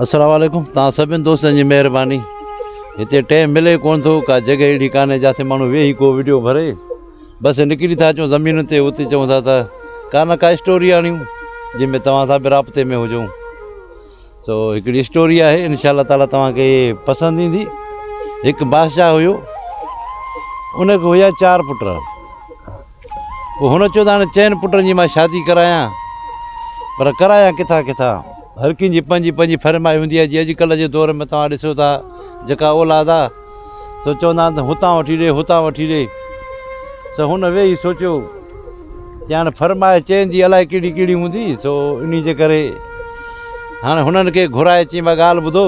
السلام عليڪم توهان سڀني دوستن جي مهرباني هتي ٽيم ملي ڪونه ٿو ڪا جڳهه اهڙي ڪانهي جاٿي ماڻهو ويهي ڪو وڊيو ڀري بس نڪري ٿا اچون زمين تي اتي چون ٿا ته ڪا نه ڪا اسٽوري آڻيون جنهن ۾ توهان سان به رابطي ۾ هجون سو هڪڙي اسٽوري آهي انشاء الله تعالی توهانکي پسند ايندي هڪ بادشاهه هيو ان کي هيا چار پٽ پوء هن چيو ته هاڻي چئن پٽن جي مان شادي ڪرايان، پر ڪرايان ڪٿان ڪٿان؟ هر ڪنهن جي پنهنجي پنهنجي ڦرمائش هوندي آهي، جي اڄڪلهه جي دور ۾ توهان ڏسو ٿا جيڪا اولاد آهي سو چوندا آهن ته هتان وٺي ڏي هتان وٺي ڏي، سو هن ويهي سوچيو ته هاڻي ڦرمائش چئن جي الائي ڪهڙي ڪهڙي هوندي، سو انهي جي ڪري هاڻي هنن کي گهرائي چيائين ڀاء ڳالهه ٻڌو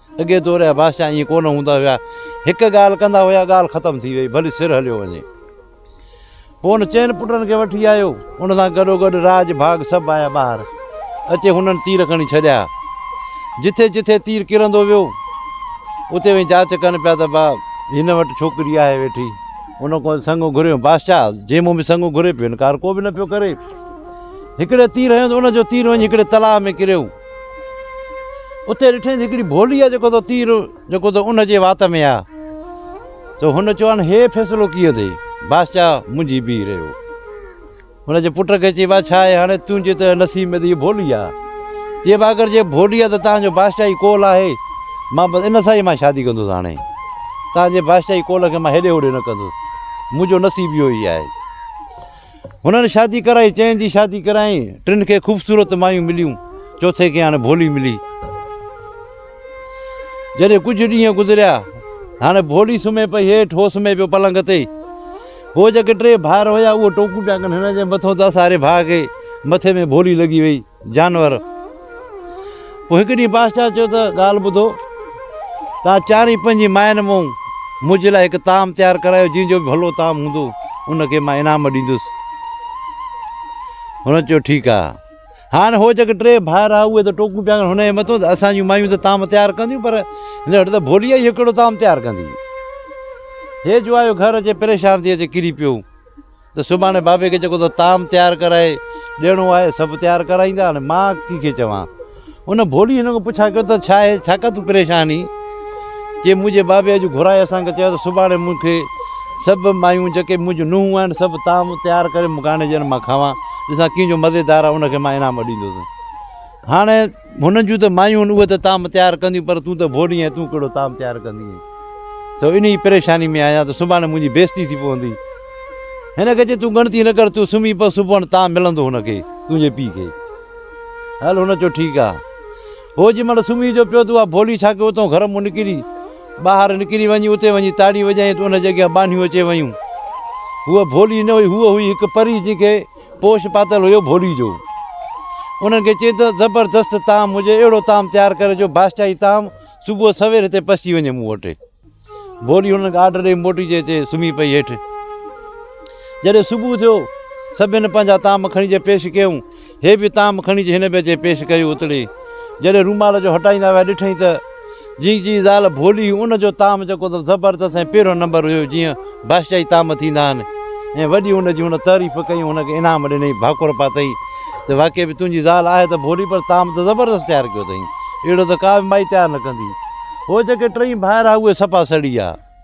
اڳي دور جا بادشاهه ائين ڪونه هوندا هيا، هڪ ڳالهه ڪندا هيا ڳالهه ختم ٿي وئي ڀلي سر هليو وڃي. پوء هن چئن پٽن کي وٺي آيو، ان سان گڏوگڏ راڄ ڀاڳ سڀ آيا ٻاهر، اچي هنن تير کڻي ڇڏيا. جٿي جٿي تير ڪرندو ويو، اتي وڃي جاچ ڪن پيا ته با هن وٽ ڇوڪري آهي ويٺي. ان کان سڱو گهريو، بادشاهه جي مون به سڱو گهري پيو، انڪار ڪو به نه پيو ڪري. هڪڙي تير هنيو ته ان جو تير وڃي هڪڙي تلاء ۾ ڪريو. اتي ڏٺائين ته هڪڙي ڀولي آ جيڪو تو تير جيڪو تو ان جي وات ۾ آ ته هن چيو هاڻي هي فيصلو ڪيئن ٿئي بادشاهه منجهي بيهي رهيو هن جي پٽ کي چيو آ ڇا آهي هاڻي تنهنجي ته نصيب ۾ ته هي ڀولي آ چيو آ اگر جي ڀولي آ ته تنهنجو بادشاهي قول آهي مان بس ان سان ئي مان شادي ڪندس هاڻي تنهنجي بادشاهي قول کي مان هيڏي هوڏي نه ڪندس منهنجو نصيب اهو ئي آهي هنن شادي ڪرائي چئن جي شادي ڪرايائين ٽن کي خوبصورت مايون مليون چوٿين کي هاڻي ڀولي ملي جڏهن ڪجهه ڏينهن گذريا هاڻي ڀولي سمهي پئي هيٺ هو سمهي پيو پلنگ تي هو جيڪي ٽي ڀائر هيا اهو ٽوڪون پيا ڪن هن جي مٿو ته ساري ڀاء کي مٿي ۾ ڀولي لڳي وئي جانور. پوء هڪ ڏينهن بادشاهه چيو ته ڳالهه ٻڌو، توهان چارئي پنهنجي ماين مون منهنجي لاء هڪ طعام تيار ڪرايو، جنهن جو به ڀلو طعام هوندو، ان کي مان انعام ڏيندس. هن چيو ٺيڪ آ. هاڻ هو جيڪي ٽي ڀائر هئا، اهي ته ٽوڪون پيا ڪن هن جي مٿو ته اسان جون مايون ته طعام تيار ڪنديون، پر هن وٽ ته ڀولي آ، اهو ڪهڙو طعام تيار ڪندي. هيء جوايو گهر اچي پريشان ٿي اچي ڪري پيو. ته سڀاڻي بابي کي جيڪو تو طعام تيار ڪرائي ڏيڻو آهي سڀ تيار ڪرائيندا هاڻي مان ڪنهن کي چوان ان ڀولي هن کان پڇا ڪيو ته ڇا آهي ڇا ڪا تون پريشان هين چي منهنجي بابي اڄ گهرائي اسان کي چيو ته سڀاڻي مون کي سڀ مايون جيڪي منهنجون نونهون آهن سڀ طعام تيار ڪري مون کي آڻي ڏين مان کاوان ڏسان ڪنهن جو مزيدار آهي ان کي مان انعام ڏيندوسين هاڻي هنن جون ته مايون آهن اهي ته طعام تيار ڪنديون پر تون ته ڀوڏي آهين تون ڪهڙو طعام تيار ڪندينء سو انهيء پريشاني ۾ آهيان ته سڀاڻي منهنجي بيعزتي ٿي پوندي هن کي چي تون ڳڻتي نه ڪر تون سمهي پو سڀوڻ طعام ملندو هن کي تنهنجي پيء کي هل هن چيو ٺيڪ آ هو جنهن مهل سمهي جو پيو ته اها ڀولي ڇا ڪيو اتئون گهر مون نڪري ٻاهر نڪري وڃي اتي وڃي تاڙي وڄائين ته ان جي اڳيان ٻانهيون اچي ويون هوء ڀولي نه هئي هوء هئي هڪ پري جنهن کي پوش پاتل هيو ڀولي جو. انهن کي چيو ته زبردست طعام هجي اهڙو طعام تيار ڪر جو بادشاهي طعام صبح سوير هتي پسچي وڃي مون وٽ. ڀولي انهن کي آرڊر ڏئي موٽي جي هتي سمهي پئي هيٺ. جڏهن صبح ٿيو سڀن پنهنجا طعام کڻي جي پيش ڪيائون. هي به طعام کڻي جي هن به اچي پيش ڪيو اتڙي جڏهن رومال جو هٽائيندا ويا ڏٺئين ته. جنهن جي زال ڀولي هئي ان جو طعام جيڪو ته زبردست ۽ پهريون نمبر هيو جيئن بادشاهي طعام ٿيندا آهن ۽ وڏي ان جي هن تعريف ڪئي ۽ هن کي انعام ڏنئي ڀاڪر پاتئي ته واقعي به تنهنجي زال آهي ته ڀولي پر طعام ته زبردست تيار ڪيو اٿئي اهڙو ته ڪا به مائي تيار نه ڪندي هو جيڪي ٽئي ڀائر آهي اهي صفا سڙي آهي.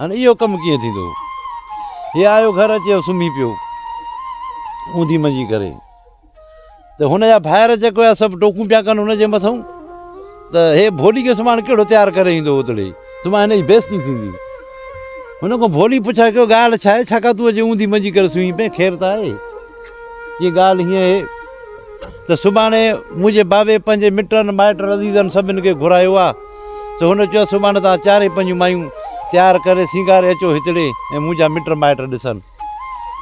هن اهو ڪم ڪيئن ٿيندو؟ هي آيو گهر اچي ۽ سمهي پيو اونڌي منجي ڪري ته هن جا ڀائر جيڪي هيا سڀ ٽوڪون پيا ڪن هن جي مٿئون ته هي ڀولي جو سامان ڪهڙو تيار ڪري ايندو اوتڙي سمهي هن جي بيستي ٿيندي هن کان ڀولي پڇا ڪيو ڳالهه ڇا آهي ڇاڪا تون اچي اونڌي منجي ڪري سمهي پئين خير ته آهي جي ڳالهه هيئن آهي ته سڀاڻي منهنجي بابي پنهنجي مٽن مائٽن عزيزن سڀن کي گهرايو آهي سو هن چيو سڀاڻي توهان چارئي پنهنجون مايون تيار ڪري سينگاري اچو هتڙي ۽ منهنجا مٽ مائٽ ڏسن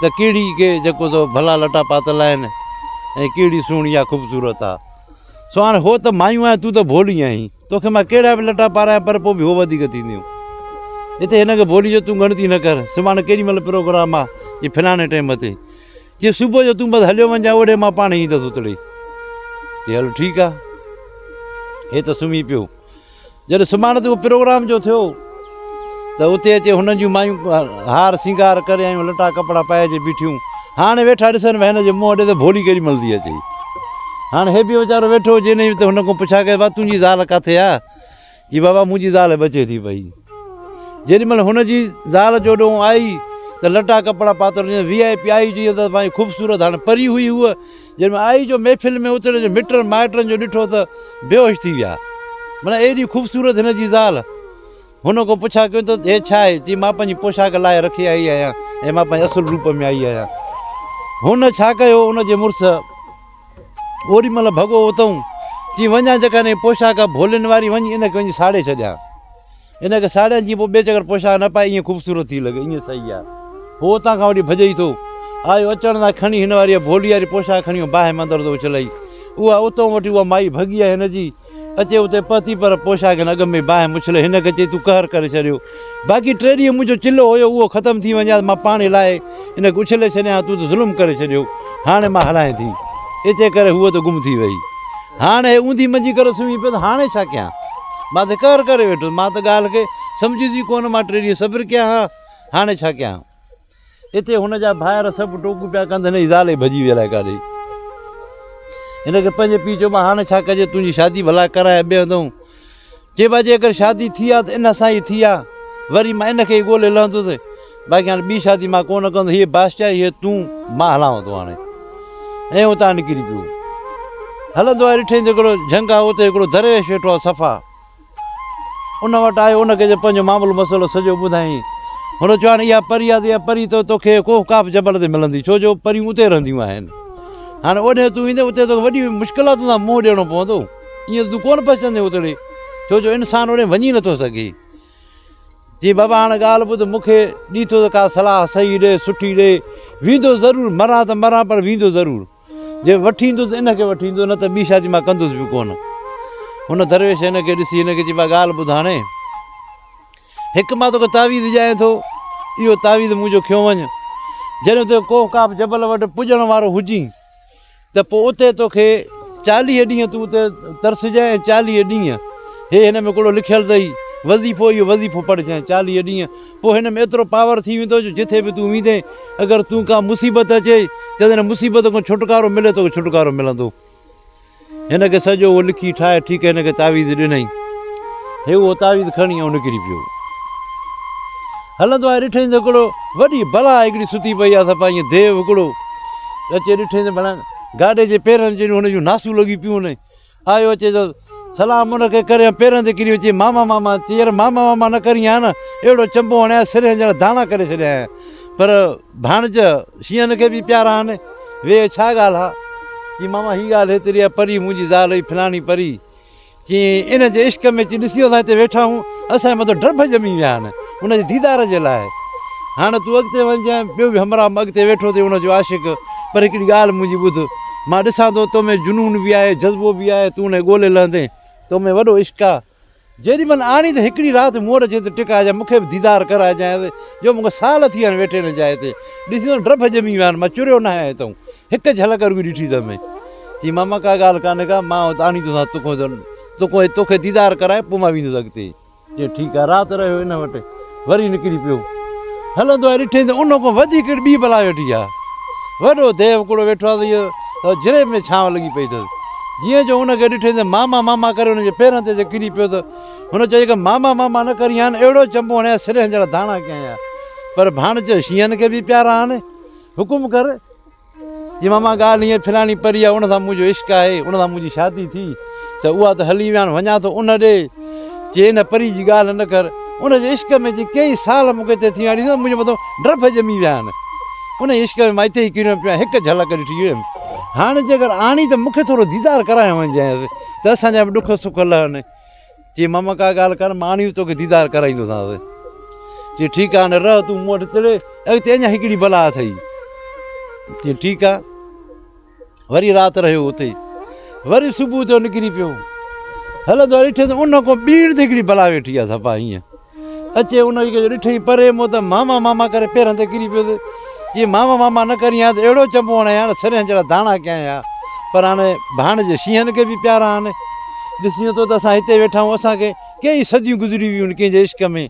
ته ڪهڙي کي جڪو تو ڀلا لٽا پاتل آهن ۽ ڪهڙي سهڻي يا خوبصورت آ سو هاڻي هو ته مايون آهن تون ته ڀولي آهين توکي مان ڪهڙا به لٽا پارايان پر پوء به هو وڌيڪ ٿينديون هتي هن کي ڀولي جو تون ڳڻتي نه ڪر سڀاڻي ڪيڏي مهل پروگرام آ جي فلاڻي ٽيم تي چيس صبح جو تون بس هليو وڃ جانء اوڏي مان پاڻ ايندس اتڙي چي هل ٺيڪ آ هي ته سمهي پيو جڏهن سماڻ تي پروگرام جو ٿيو ته اتي اچي هنن جون مايون هار سينگار ڪري آيون لٽا ڪپڙا پائي اچي بيٺيون هاڻي ويٺا ڏسن ڀاء هن جو منهن ڏي ته ڀولي ڪيڏي مل ٿي اچي هاڻي هي به ويچارو ويٺو هجي نه ته هن کان پڇا ڪي وا تنهنجي زال ڪاٿي آ جي بابا منهنجي زال بچي ٿي پئي. جيڏي مهل هن جي زال جو ڏونهن آئي ته لٽا ڪپڙا پاتل هيس وي آء پي آئي جيئن ته ماهي خوبصورت هاڻي پري هئي هوء جيڏي مهل آئي جو محفل ۾ اتي هن مٽن مائٽن جو ڏٺو ته بيهوش ٿي ويا معنيٰ ايڏي خوبصورت هن جي زال هن کان پڇا ڪيون ته هي ڇا آهي چي مان پنهنجي پوشاڪ لاهي رکي آئي آهيان ۽ مان پنهنجي اصل روپ ۾ آئي آهيان هن ڇا ڪيو ان جي مڙس اوڏي مھل ڀڳو اتئون، چي وڃان جيڪا ھنجي پوشاڪ ڀولين واري وڃي انھيء کي وڃي ساڙي ڇڏيان. انھيء کي ساڙيان جيئن پوء ٻئي چڪر پوشاڪ نه پائي ائين خوبصورت ٿي لڳي. ائين صحيح آ. ھو اتان کان وٺي ڀڄي ئي ٿو آيو. اچڻ سان کڻي ھن واريء ڀولي واري پوشاڪ کڻي ھن باھه مان اندر ٿو اڇلائي. اھا اتئون وٺي اھا مائي ڀڳي آھي ھن جي. اچي اتي پهتي پر پوشاڪن اڳ ۾ باهه مڇلي هن کي چئي تون قهر ڪري ڇڏيو باقي ٽي ڏينهن منهنجو چلهو هيو اهو ختم ٿي وڃي ها مان پاڻي لاهي هن کي اڇلي ڇڏيان ها تون ته ظلم ڪري ڇڏيو هاڻي مان هلائين ٿي اتي ڪري هوء ته گم ٿي وئي هاڻ هي اونڌي منجهي ڪري سمهي پيس هاڻي ڇا ڪيان مان ته قهر ڪري ويٺس مان ته ڳالهه کي سمجهيس ئي ڪونه مان ٽي ڏينهن صبر ڪيان ها هاڻي ڇا ڪيان اتي هن جا ڀائر سڀ ٽوڪون پيا ڪن ته هن جي زال ئي ڀڄي وئي الائي ڪاڏي. هن کي پنهنجي پيء چيو مان هاڻي ڇا ڪجي تنهنجي شادي ڀلا ڪران يا ٻئي هنڌ هون. چي ڀاء جي اگر شادي ٿي آ ته ان سان ئي ٿي آ. وري مان ان کي ئي ڳولي لهندس. باقي هاڻي ٻي شادي مان ڪونه ڪندس. هيء بادشاهي هيء تون مان هلانو ٿو هاڻي. ۽ اتان نڪري پيو. هلندو آيو ڏٺئي ته هڪڙو جهنگ آ اتي هڪڙو درويش ويٺو آ صفا. ان وٽ آيو، ان کي پنهنجو معاملو مسئلو سڄو ٻڌايائين. هن چيو هاڻي اها پري آهي ته اها پري ته توکي ڪوهه قاف جبل تي ملندي، ڇو جو پريون اتي رهنديون آهن. هاڻي اوڏهين تون ويندين، اتي توکي وڏي مشڪلاتن سان منهن ڏيڻو پوندو. ائين ته تون ڪونه پهچندين اتڙي، ڇو جو انسان اوڏهين وڃي نٿو سگهي. چيائين بابا هاڻي ڳالهه ٻڌ، مون کي ڏي ٿو ته ڪا صلاح صحيح ڏي، سٺي ڏي. ويندو ضرور، مران ته مران پر ويندو ضرور. جي وٺي ايندو ته ان کي وٺي ايندو نه ته ٻي شادي مان ڪندس به ڪونه. هن درويش هن کي ڏسي هن کي چيو ڀاء ڳالهه ٻڌاڻي هڪ مان توکي تعويذ ڄايان ٿو اهو تعويذ منهنجو کيو وڃ جڏهن تون ڪوه ڪاف جبل وٽ پڄڻ وارو هجين ته پوء اتي توکي چاليهه ڏينهن تون اتي ترسجانء ۽ چاليهه ڏينهن هي هن ۾ ڪهڙو لکيل اٿئي وظيفو اهو وظيفو پڙهجانء چاليهه ڏينهن پوء هن ۾ ايترو پاور ٿي ويندو جو جٿي به تون ويندين اگر تون ڪا مصيبت اچي ته هن مصيبت کان ڇوٽڪارو ملي توکي ڇوٽڪارو ملندو. هن کي سڄو اهو لکي ٺاهي ٺيڪ هن کي تعويذ ڏنائين. هي اهو تعويذ کڻي ۽ نڪري پيو. هلندو آهي ڏٺائين ته هڪڙو وڏي بلا هڪڙي ستي پئي آهي سفا ائين ديو هڪڙو اچي ڏٺائين ته ڀلا گاڏي جي پيرن جهڙيون هن جون ناسون لڳي پيون هن آيو اچي جو سلام ان کي ڪري ۽ پيرن تي ڪري اچي ماما ماما چي يار ماما ماما نه ڪرين ها نه اهڙو چنبو هڻيان سر ڄڻ داڻا ڪري ڇڏيائين پر ڀاڻج شينهن کي به پيارا آهن وي ڇا ڳالهه آ جي ماما هي ڳالهه هيتري آ پري منهنجي زال هئي فلاڻي پري چي ان جي عشق ۾ چي ڏسي ويٺا آهيون اسان جي مٿو ڊڀ ڄمي ويا آهن ان جي ديدار جي لاء هاڻ تون اڳتي وڃ جنهن ٻيو به همراهه مان اڳتي ويٺو اٿئي ان جو عاشق پر هڪڙي ڳالهه منهنجي ٻڌ مان ڏسان ٿو تو ۾ جنون به آهي جذبو به آهي تون انهي ڳولي لهندي تو ۾ وڏو عشق آ جيڏي مهل آڻي ته هڪڙي رات مون وٽ اچي ته ٽڪائجانء مون کي به ديدار ڪرائجانء جو مون کي سال ٿي ويا آهن ويٺي هن جاء تي ڏسي ته ڊڀ ڄمي ويا آهن مان چريو ناهي آهيان تون هڪ جهلڪ رڳو ڏٺي ته مين چيم ماما ڪا ڳالهه ڪانهي ڪا مان آڻيندوسانء تو کان تو کان توکي ديدار ڪرائي پوء مان ويندس اڳتي چيو ٺيڪ آهي رات رهيو ان وٽ وري نڪري پيو هلندو آهي ڏٺئي ته ان کان وڌيڪ هڪڙي ٻي بلا ويٺي آهي وڏو ديو ڪوڙو ويٺو آهي ته اهو جريب ۾ ڇانو لڳي پئي اٿس جيئن جو ان کي ڏٺئي ته ماما ماما ڪري ان جي پيرن تي اچي ڪري پيو ته هن چيو ته ماما ماما نه ڪرين هان اهڙو چنبو هڻيان سرهن جهڙا داڻا ڪيائين پر ڀاڻ چيو شينهن کي به پيارا آهن حڪم ڪر جي ماما ڳالهه هيئن ڦراڻي پري آهي، ان سان منهنجو عشق آهي، ان سان منهنجي شادي ٿي ته اها ته هلي ويا، وڃان ٿو ان ڏي، جي ان پري جي ڳالهه نه ڪر، ان جي عشق ۾ جي ڪيئي سال مون کي هتي ٿي ويا ڏسي ته منهنجي مٿان ڊرڀ ڄمي ويا آهن، انهيء عشق ۾ مان هتي ئي ڪريو پيو آهيان، هڪ جهلڪ ڏٺي ويم، هاڻي جيڪر آڻي ته مون کي ٿورو ديدار ڪرايان وڃجانء ته اسان جا به ڏک سک لهن. چي ماما ڪا ڳالهه ڪر مان آڻي توکي ديدار ڪرائيندوسانس چي ٺيڪ آهي نه رهه تون مون وٽ تڙي اڳتي اڃا هڪڙي بلا اٿئي چي ٺيڪ آهي وري رات رهيو اتي وري صبح جو نڪري پيو هلندو ڏٺس ان کان ٻيڻ تي هڪڙي بلا ويٺي آهي سفا ائين اچي ان کي جو ڏٺئين پري مون ته ماما ماما ڪري پيرن تي ڪري پيس جي ماما ماما نه ڪرين ها ته اهڙو چنبو هڻين ها سرهين جهڙا داڻا ڪيائين ها پر هاڻي ڀاڻيجي شينهن کي به پيارا آهن ڏسجين ٿو ته اسان هتي ويٺا آهيون اسان کي ڪيئي صديون گذري ويون آهن ڪنهن جي عشق ۾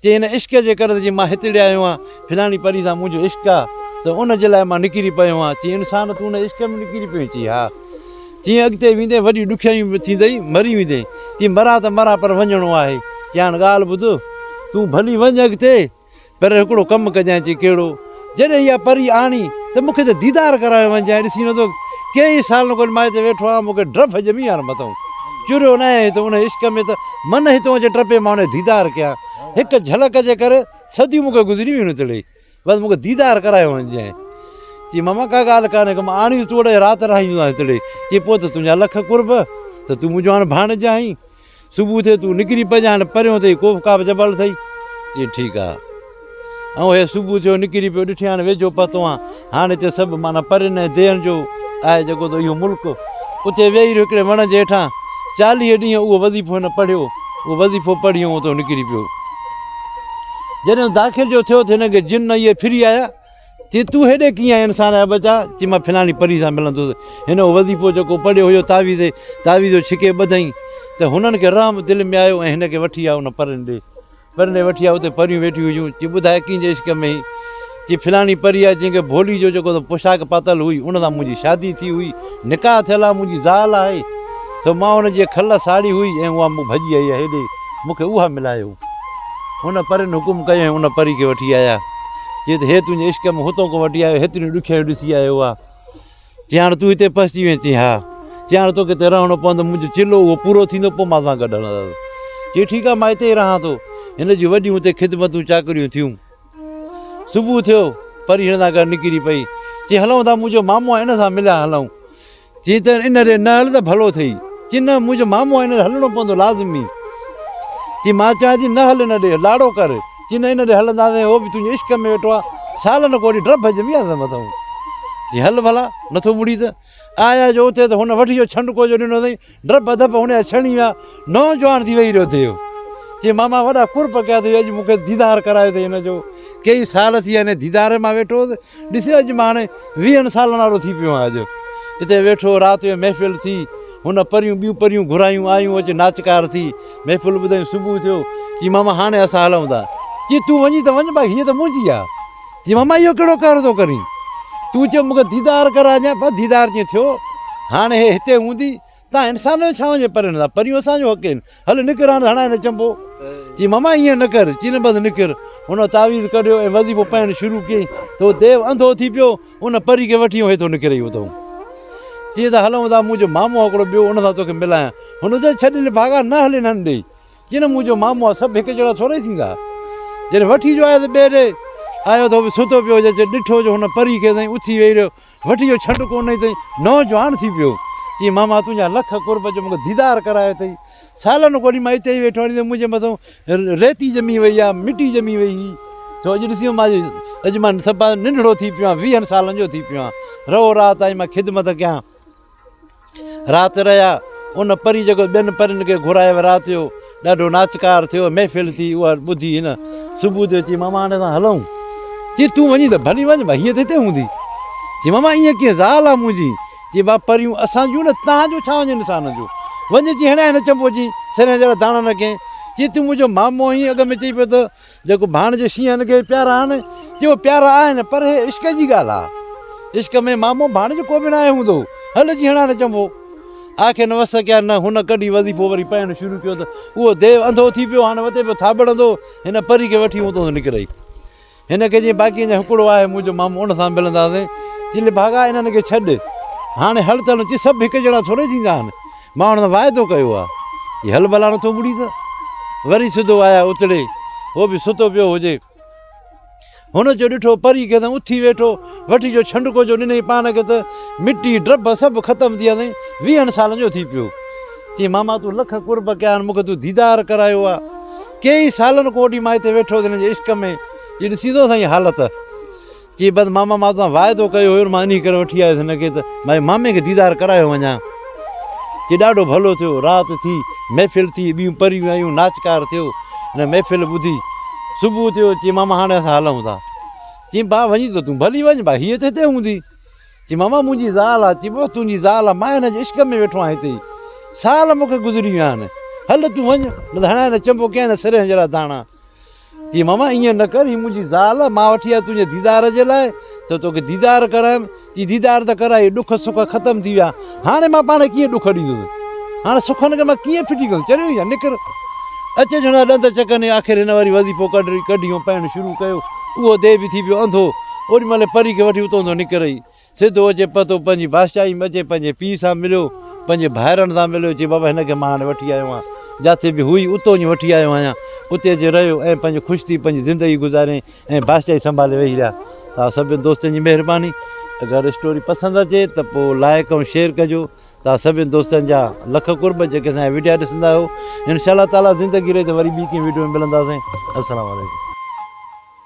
چي ان عشق جي ڪري جي مان هتڙي آيو آهيان فلاڻي پري سان منهنجو عشق آهي ته ان جي لاء مان نڪري پيو آهيان چي انسان تون ان عشق ۾ نڪري پيو چي ها چيائين اڳتي ويندين وڏيون ڏکيائيون به ٿيندئي، مري ويندين. چيائين مران ته مران پر وڃڻو آهي. چيائين ڳالهه ٻڌ، تون ڀلي وڃ اڳتي، پر هڪڙو ڪم ڪجانء. چيائين ڪهڙو؟ جڏهن اها پري آڻي ته مون کي ته ديدار ڪرائي وڃجانء، ڏسين ته ڪيئي سالن کان مائي تي ويٺو آهيان، مون کي ڊپ ڄمي آهي نه متئون چريو نه آهيان، هتئون انهيء عشق ۾ ته من هتئون اچي ٽپي مان انهيء ديدار ڪيان، هڪ جهلڪ جي ڪري صديون مون کي گذري ويون نه تڙي. بس مون کي ديدار ڪرايو وڃ جنهن. چي ماما ڪا ڳالهه ڪانهي ڪم آڻيس تون اڙي رات رهائيندوسانس تڙي. چي پوء ته تنهنجا لک قرب ته تون منهنجو هاڻ ڀاڻج آهين. صبح ٿئي تون نڪري پئج هاڻ پريون اٿئي ڪوف ڪاف جبل اٿئي. چي ٺيڪ آ. ائون هي صبح ٿيو نڪري پيو ڏٺي هاڻ ويجهو پهتو آن. هاڻ هتي سڀ معنيٰ پرين ۽ دين جو آهي جيڪو ته اهو ملڪ. اتي ويهي رهيو هڪڙي وڻ جي هيٺان. چاليهه ڏينهن اهو وظيفو هن پڙهيو. اهو وظيفو پڙهي ائون اتئون نڪري پيو. جڏهن داخل جو ٿيو ته هن کي جن نيئي ڦري آيا، چي تون هيڏي ڪيئن آهين انسان جا ٻچا؟ چي مان فلاڻي پري سان ملندوس. هن اهو وظيفو جيڪو پڙهيو هيو تعويذ تعويذو ڇڪي ٻڌائين ته هنن کي رحم دل ۾ آيو ۽ هن کي وٺي آيا ان پرين ڏي. پرين ڏي وٺي آيا اتي پريون ويٺيون هيون، چي ٻڌاء ڪنهن جي عشق ۾ هين؟ جي فلاڻي پري آهي جنهن کي ڀولي جو جيڪو پوشاڪ پاتل هئي ان سان منهنجي شادي ٿي هئي نڪاح ٿيل آهي منهنجي زال آهي سو مان ان جي کل ساڙي هئي ۽ اها مون ڀڄي آئي آهي هيڏي مون کي اها ملايو ان پرين حڪم ڪيو ۽ ان پري کي وٺي آيا چي ته هي تنهنجي عشق ۾ هتو ڪو وٺي آيو هيتريون ڏکيائيون ڏسي آيو آهي چي هاڻ تون هتي پسجي وئين چي ها چي هاڻ توکي هتي رهڻو پوندو منهنجو چلو اهو پورو ٿيندو پوء مان سان گڏ هلندس چي ٺيڪ آهي مان هتي ئي رهان ٿو هن جون وڏيون هتي خدمتون چاڪريون ٿيون صبح ٿيو پري هن سان گڏ نڪري پئي چي هلون ٿا منهنجو مامو آهي ان سان مليا هلون چي ته ان ري نه هل ته ڀلو اٿئي چي نه منهنجو مامو آهي هن هلڻو پوندو لازمي چي مان چاهيان ٿي نه هل ان ڏي لاڙو ڪر چي نه ان ڏي هلنداسين هو به تنهنجي عشق ۾ ويٺو آهي سالن ڪوڙي ڊڀ ڄمي آ سمتون چي هل ڀلا نٿو مڙي ته آيا جو اتي ته هن وڍيو ڇنڊڪو جو ڏنو اٿئي، ڊپ ڌپ هن جا ڇڻي ويا، نوجوان ٿي ويهي رهيو ٿيو. چي ماما وڏا قرب ڪيا اٿئي، اڄ مون کي ديدار ڪرايو اٿئي هن جو، ڪيئي سال ٿي ويا هن جي ديدار مان ويٺو هوس، ڏس اڄ مان هاڻي ويهن سالن وارو ٿي پيو آهيان اڄ. اتي ويٺو، رات جو محفل ٿي، هن پريون ٻيون پريون گهرايون، آيون اچي ناچڪار ٿي، محفل ٻڌائين، صبح ٿيو، چي ماما هاڻي اسان هلون ٿا. چي تون وڃين ته وڃ باقي هيء ته منهنجي آهي. چيو ماما اهو ڪهڙو قهر ٿو ڪرين تون چيو مون کي ديدار ڪراء جانء بس ديدار جيئن ٿيو هاڻي هي هتي هوندي تان انسان جو ڇا وڃي پرين هندا پريون اسان جو حق آهن هل نڪر هاڻي هڻائي نه چنبو چيو ماما ايئن نه ڪر چيو نه بس نڪر هن تعويذ ڪڍيو ۽ وظيفو پائڻ شروع ڪيئي ته هو ديو انڌو ٿي پيو ان پري کي وٺي هيٿو نڪري ويو اٿو چيئي ته هلون ٿا منهنجو مامو هڪڙو ٻيو ان سان توکي ملايان هن چيو ڇڏ نڀاڳا نه هلين هن ڏي جنم منهنجو مامو آ سڀ هڪ جهڙا ٿورئي ٿيندا. جڏهن وٺي جو آيس ٻئي ڏي آيو ته هو به ستو پيو هجي چي ڏٺو جو هن پري ڪئي تائين اٿي ويهي رهيو وٺي جو ڇنڊ ڪو نئي تائين نوجوان ٿي پيو چي ماما تنهنجا لک قرب جو مونکي ديدار ڪرايو اٿئي سالن کولي مان اتي ئي ويٺو آهيان منهنجي مٿو ريتي ڄمي وئي آ مٽي ڄمي وئي هئي سو اڄ ڏسيو مان اڄ مان سڀ ننڍڙو ٿي پيو آهيان ويهن سالن جو ٿي پيو آهيان رهو رات تائين مان خدمت ڪيان رات رهيا. ان پري جيڪو ٻين پرين کي گهرايو رات جو ڏاڍو ناچڪار ٿيو. محفل ٿي. اها ٻڌي هن صبح جو چيائين ماما هاڻي اسان هلون؟ چي تون وڃين ته ڀلي وڃ ڀا هيء ته هتي هوندي. چي ماما ايئن ڪيئن زال آ منهنجي. چي ڀا پريون اسان جون نه تنهن جو ڇا وڃي نسانن جو. وڃ چي هڻيائين هن چنبو چي سرهين جهڙا داڻا نه ڪين. چي تون منهنجو مامو آهين اڳ ۾ چئي پيو ته. جيڪو ڀاڻجي شينهن کي پيارا آهن تيو پيارا آهن پر هي عشق جي ڳالهه آهي عشق ۾ مامو ڀاڻج ڪو به ناهي هوندو هل جي هڻان نه چنبو آکين وس ڪيا نه هن ڪڍي وظيفو وري پائڻ شروع ڪيو ته اهو ديو انڌو ٿي پيو هاڻ وتي پيو ٿاٻڙندو هن پري کي وٺي اوتو نڪرئي هن کي جي باقي اڃا هڪڙو آهي منهنجو مامو ان سان ملنداسين چلي ڀاڳا انهن کي ڇڏ هاڻي هل تلون چي سڀ هڪ جهڙا ٿورئي ٿيندا آهن مان انهن سان واعدو ڪيو آ جي هل بلا نٿو مڙي ته وري سڌو آيا اتڙي هو به ستو پيو هجي هن جو ڏٺو پري کي ته اٿي ويٺو وٺي جو ڇنڊڪو جو ڏنئي پان کي ته مٽي ڊرب سڀ ختم ٿي ويا ويهن سالن جو ٿي پيو چي ماما تون لک قرب ڪيا آهن مونکي تون ديدار ڪرايو آ ڪيئي سالن کان وٺي مان هتي ويٺو هتي هن جي عشق ۾ جي ڏسي ٿو سائين حالت چي بس ماما مان توسان واعدو ڪيو هيو مان انهي ڪري وٺي آيس هن کي ته ڀائي مامي کي ديدار ڪرايو وڃان. چي ڏاڍو ڀلو ٿيو. رات ٿي محفل ٿي ٻيون پريون آيون ناچڪار ٿيو هن محفل ٻڌي صبح ٿيو چي ماما هاڻي اسان هلون ٿا. چيم ڀاء وڃي ته تون ڀلي وڃ ڀاء هيء ته هتي هوندي. چي ماما منهنجي زال آ. چي بس تنهنجي زال آ مان هن جي عشق ۾ ويٺو آهيان هتي سال مون کي گذري ويا آهن هل تون وڃ نه ته هڻان هن چنبو ڪيائين سرهه جهڙا داڻا. چيائين، ماما ائين نه ڪر، هي منهنجي زال مان وٺي آيو آهيان تنهنجي ديدار جي لاء ته توکي ديدار ڪرايم. چيائين، ديدار ته ڪرائي، ڏک سک ختم ٿي ويا، هاڻي مان پاڻ ڪيئن ڏک ڏيندس؟ هاڻي سکن کي مان ڪيئن ڦٽي ڪندس؟ چريو هينئن نڪر. اچ اچ هن جا ڏند چڪني، آخر هن وري وظيفو ڪڍيو ۽ پهڻ شروع ڪيو. اهو ديهه به ٿي پيو انڌو، اوڏي مهل پري کي وٺي اتان تان نڪري. سڌ هو چي پتو پنهنجي بادشاهي مچي پنهنجي پيء سان مليو پنهنجي ڀائرن سان مليو چي بابا هن کي مان هاڻي وٺي آيو آهيان جاٿي به هئي اتو جي وٺي آيو آهيان اتي اچي رهيو ۽ پنهنجو خوش ٿي پنهنجي زندگي گذارين ۽ بادشاهي سنڀالي ويهي رهيا توهان سڀني دوستن جي مهرباني اگر اسٽوري پسند اچي ته پو لائق ۽ شيئر ڪجو توهان سڀني دوستن جا لک قرب جيڪي اسان جا وڊيا ڏسندا آهيو انشاء الله تعالي زندگي رهي ته وري ٻي ڪنهن وڊيو ۾ ملنداسين السلام عليڪم